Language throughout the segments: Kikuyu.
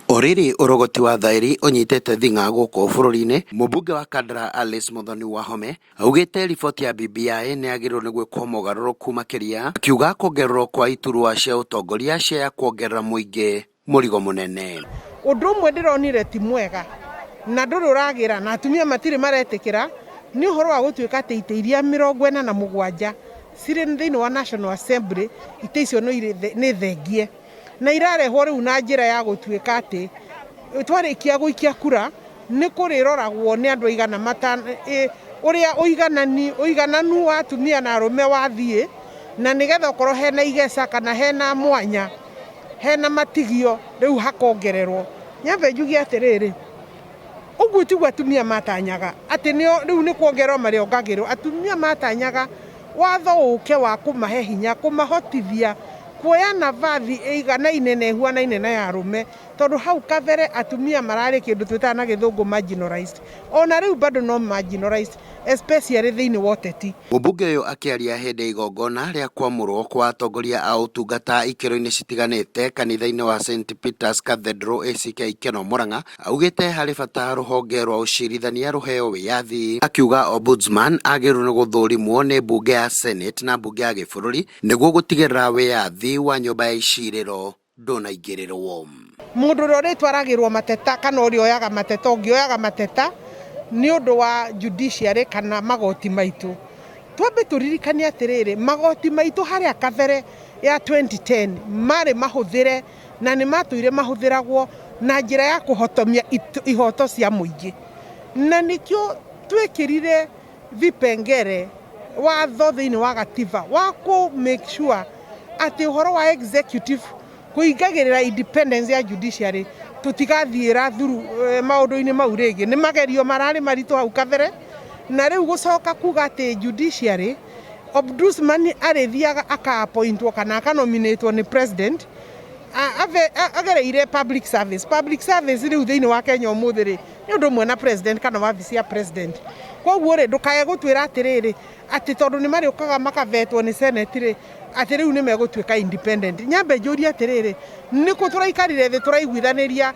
Oriri urogoti wa thaĩri ũnyitĩte thing'a gũkũ bũrũri-inĩ. Mũmbunge wa Kandara Alice Muthoni Wahome augĩte riboti ya BBI nĩyagĩrĩirwo nĩ gwĩkwo mogarũrũku makĩria, akiuga kuongererwo kwa iturwa cia ũtongoria cia ya kuongerera mũingĩ mũrigo mũnene. Ũndũ ũmwe ndĩronire ti mwega na ndũrĩ ũragĩra na atumia matirĩ maretĩkĩra nĩ ũhoro wa gũtuĩka atĩ itĩ iria mĩrongo ĩna na mũgwanja cirĩ thĩinĩ wa National Assembly, itĩ icio nĩ thengie. na irarehwo rĩu na njĩra ya gũtuĩka atĩ twarĩkia gũikia kura nĩ kũrĩroragwo nĩ andũ aigana mata ĩ ũrĩa ũiganani ũigananu wa atumia na arũme wathiĩ na nĩgetha okorwo hena igeca kana hena mwanya hena matigio rĩu hakongererwo nyambe njuge atĩrĩrĩ ũguo tiguo atumia matanyaga atĩ nĩo rĩu nĩ kuongererwo marĩongagĩrĩrwo atumia matanyaga Watho ũũke wa kũmahe hinya kũmahotithia kuoya navathi ĩiganaine na ĩhuanaine na ya arũme, tondũ hau kabere atumia mararĩ kĩndũ twĩtaga na gĩthũngũ marginalized. O na rĩu bado no marginalized, especially thĩinĩ wa ũteti. Mũmbunge ũyũ akĩaria hĩndĩ ya igongona rĩa kwamũrwo kwa atongoria a ũtungata ikĩro-inĩ citiganĩte kanitha-inĩ wa St Peter's Cathedral ACK Ikeno Mũrang'a Augĩte harĩ bata rũhonge rwa ũcirithania rũheo wĩyathi. Akiuga Ombudsman agĩrĩirwo nĩ gũthũrimwo nĩ mbunge ya Senate na mbunge ya gĩbũrũri nĩguo gũtigĩrĩra wĩyathi wa nyũmba ya icirĩro ndũnaingĩrĩrwo. Mũndũ ũrĩa ũrĩtwaragĩrwo mateta kana ũrĩa oyaga mateta ũngĩoyaga mateta nĩ ũndũ wa judiciary kana magoti maitũ. Twambe tũririkane atĩrĩrĩ, magoti maitũ harĩa kabere ya 2010 marĩ mahũthĩre na nĩ maatũire mahũthĩragwo na njĩra ya kũhotomia ihoto cia mũingĩ. Na nĩkĩo twekĩrire vipengere watho thĩinĩ wa gatiba wa kũ make sure atĩ ũhoro wa executive kũingagĩrĩra independence ya judiciary tũtigathiĩra thuru eh, maũndũ-inĩ mau rĩngĩ. Nĩ magerio mararĩ maritũ hau kabere na rĩu gũcoka kuga atĩ judiciary Ombudsman arĩthiaga aka appointwo kana aka nominatwo nĩ president a- ave- a- agereire public service public service rĩu thĩinĩ wa Kenya ũmũthĩ rĩ nĩ ũndũ ũmwe na president kana wabici ya president koguo rĩ ndũkae gũtwĩra atĩrĩrĩ atĩ tondũ nĩ marĩũkaga makavetwo nĩ senate rĩ atĩ rĩu nĩ megũtuĩka independent nyambe njũrie atĩrĩrĩ nĩkũ tũraikarire thĩ tũraiguithanĩria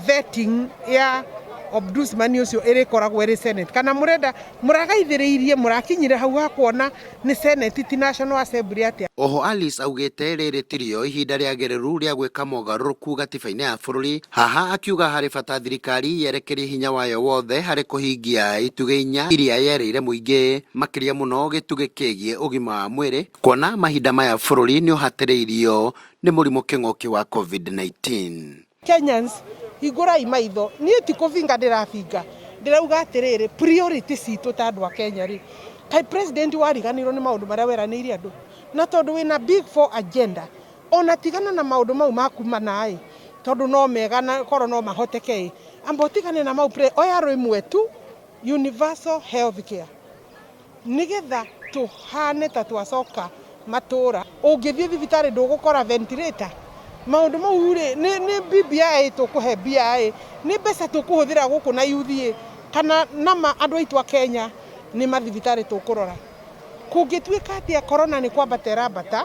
vetting ya ombudsman ucio irikoragwo iri senate kana murenda muragaithiriirie murakinyire hau ha kuona ni senate ti national assembly atia Oho Alice augĩte rĩrĩ tirĩo ihinda rĩagĩrĩru rĩa gwĩka mogarũrũku gatiba-inĩ ya bũrũri, haha akiuga harĩ bata thirikari yerekerie hinya wayo wothe harĩ kũhingia itugĩ inya iria yerĩire mũingĩ, makĩria mũno gĩtugĩ kĩgiĩ ũgima wa mwĩrĩ, kuona mahinda maya bũrũri nĩũhatĩrĩirio nĩ mũrimũ kĩng'ũki wa Covid-19. Kenyans hingũrai maitho niĩ ti kũbinga ndĩrabinga ndĩrauga atĩrĩrĩ priority citũ ta andũ a Kenya rĩ kaĩ president wariganĩirwo nĩ maũndũ marĩa weranĩire andũ na tondũ wĩna big four agenda ona tigana na maũndũ mau maku mana ĩ tondũ no mega na korwo no mahoteke ĩ amba ũtigane na mau oya rwĩmwe tu universal health care Nĩgetha tũhane ta twacoka matũũra. Ũngĩthiĩ thibitarĩ ndũgũkora ventilator? Maũndũ mau-rĩ, nĩ nĩ BBI tũkũhe mbia-ĩ, nĩ mbeca tũkũhũthĩra gũkũ na yuthi-ĩ, kana nama andũ aitũ a Kenya nĩ mathibitarĩ tũkũrora? Kũngĩtuĩka atĩa Corona nĩ kwambata ĩrambata,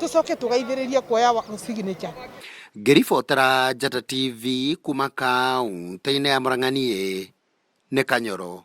tũcoke tũgaithĩrĩrie kuoya signature? Ngĩribotera Njata TV kuuma kaũntĩ-inĩ ya Mũrang'a niĩ nĩ Kanyoro